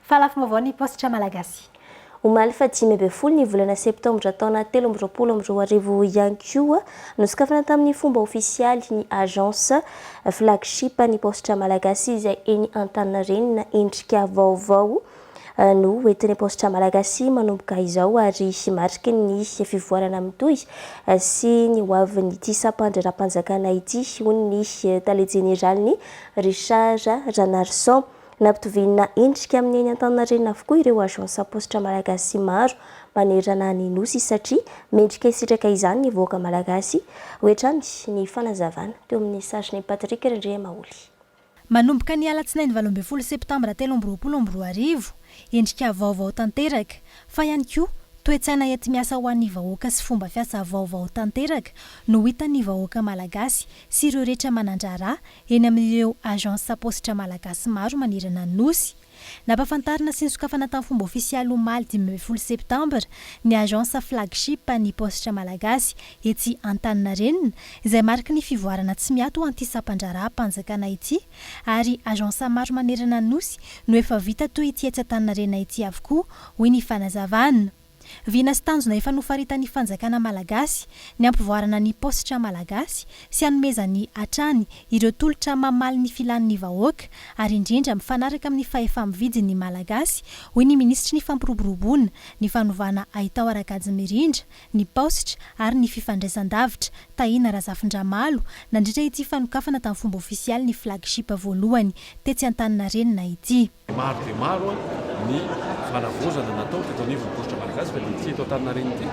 Fa lafim-baovao ny paositra malagasy. Omaly faha dimy ambin'ny folo ny volana septambra taona telo amby roapolo amby roa arivo ihany koa, nosokafana tamin'ny fomba ofisialy ny Agence flagship ny paositra malagasy izay eny Antaninarenina. Endrika vaovao no ho entin'ny paositra malagasy manomboka izao ary mariky ny fivoarana mitohy sy ny ho avin'ity sampan-draharaham-panjakana ity, hoy ny tale jeneralin'ny Richard Ranarison. Nampitoviana endrika amin'ny eny Antaninarenina avokoa ireo agence am-paositra malagasy maro manerana ny Nosy satria mendrika hisitraka izany ny vahoaka malagasy, hoy hatrany ny fanazavana teo amin'ny sarin'i Patrick Randriamaholy. Manomboka ny alatsinainy valo ambin'ny folo septambra telo amby roapolo amby roa arivo, endrika vaovao tanteraka, fa ihany koa toe-tsaina enti-miasa ho an'ny vahoaka sy fomba fiasa vaovao tanteraka no hitan'ny vahoaka malagasy sy ireo rehetra manan-draharaha eny amin'ireo agence Sapositra Malagasy maro manerana ny Nosy. Nampafantarina sy nosokafana tamin'ny fomba ofisialy omaly dimy ambin'ny folo septambra ny agence flagship an'ny Paositra Malagasy etsy Antaninarenina izay mariky ny fivoarana tsy miato an'ity sampan-draharaham-panjakana ity ary agence maro manerana ny Nosy no efa vita toy ity etsy Antaninarenina ity avokoa hoy ny fanazavana. Vina sy tanjona efa nofaritan'ny fanjakana malagasy ny hampivoarana ny paositra malagasy sy hanomezany hatrany ireo tolotra mamaly ny filan'ny vahoaka ary indrindra mifanaraka amin'ny fahefa-mividy ny malagasy, hoy ny minisitry ny Fampiroboroboana, ny fanovana haitao ara-kajy mirindra, ny paositra ary ny fifandraisandavitra, Tahina Razafindramalo, nandritra ity fanokafana tamin'ny fomba ofisialy ny flagship voalohany tetsy Antaninarenina ity. Maro dia maro ny fanavaozana natao teto anivon'ny paositra malagasy fa dia ity eto Antaninarenina ity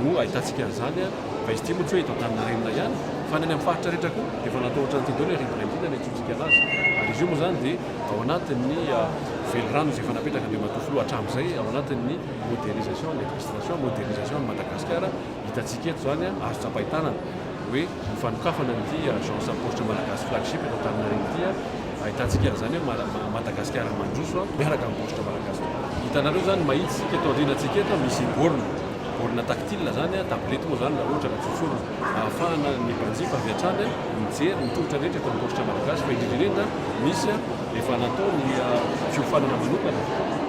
no ahitantsika an'izany fa izy ity moa tsy hoe eto Antaninarenina ihany fa any amin'ny faritra rehetra koa dia efa natao ohatran'ity daholo ny rivotra indrindra ny antsointsika an'azy ary izy io moa izany dia ao anatin'ny velirano izay efa napetraka Andriamatoa Filoha hatramin'izay ao anatin'ny modernisation, administration, modernisation an'i Madagasikara. Hitantsika eto izany, azo tsapain-tanana, hoe ny fanokafana an'ity Agence Apostre Malagasy Flagship eto Antaninarenina ity, ahitantsika an'izany hoe Madagasikara mandroso miaraka amin'ny Paositra Malagasy tokoa. Hitanareo izany mahitsy isika eto aorianantsika eto, misy borne, borne tactile izany, tablette moa izany raha ohatra ka tsotsoroka, ahafahana ny mpanjifa avy hatrany mijery ny tolotra rehetra eto amin'ny Paositra Malagasy, fa indrindra indrindra misy efa natao ny fiofanana manokana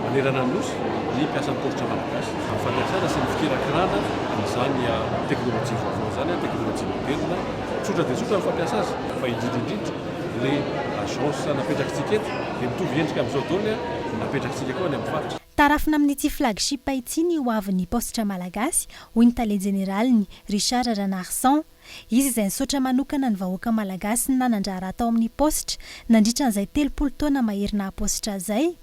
manerana ny Nosy ny mpiasan'ny Paositra Malagasy. Ny fampiasana sy ny fikirakirana izany teknolojia vaovao izany, teknolojia moderina, tsotra dia tsotra ny fampiasa azy fa indrindra indrindra ilay agence napetrakitsika eto dia mitovy endrika amin'izao daholo ilay napetrakitsika koa any amin'ny faritra. Tarafina amin'ity flagship ity ny hoavin'ny paositra malagasy, hoy ny tale jeneraliny, Richard Ranarison. Izy izay nisaotra manokana ny vahoaka malagasy ny nanan-draharaha tao amin'ny paositra nandritra an'izay telopolo taona mahery naha-paositra izay,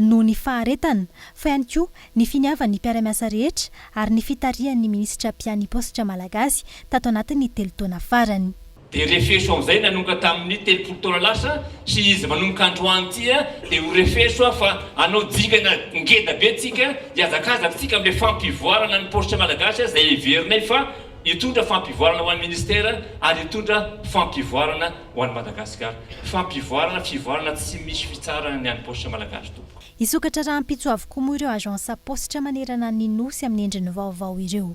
noho ny faharetana, fa ihany koa ny finiavan'ny mpiara-miasa rehetra ary ny fitarihan'ny minisitra mpiahy ny paositra malagasy tato anatin'ny telo taona farany. Dia refeso amin'izay nanomboka tamin'ny telopolo taona lasa sy izy manomboka androany ity dia ho refeso aho fa hanao dingana ngeda be tsika, hihazakazaka tsika amin'ilay fampivoarana ny paositra malagasy izay heverinay fa Hitondra fampivoarana ho an'ny Ministera ary hitondra fampivoarana ho an'i Madagasikara. Fampivoarana, fivoarana tsy misy fitsarana ny an'ny Paositra Malagasy tompoko. Hisokatra rahampitso avokoa moa ireo Agence Paositra manerana ny Nosy amin'ny endriny vaovao ireo.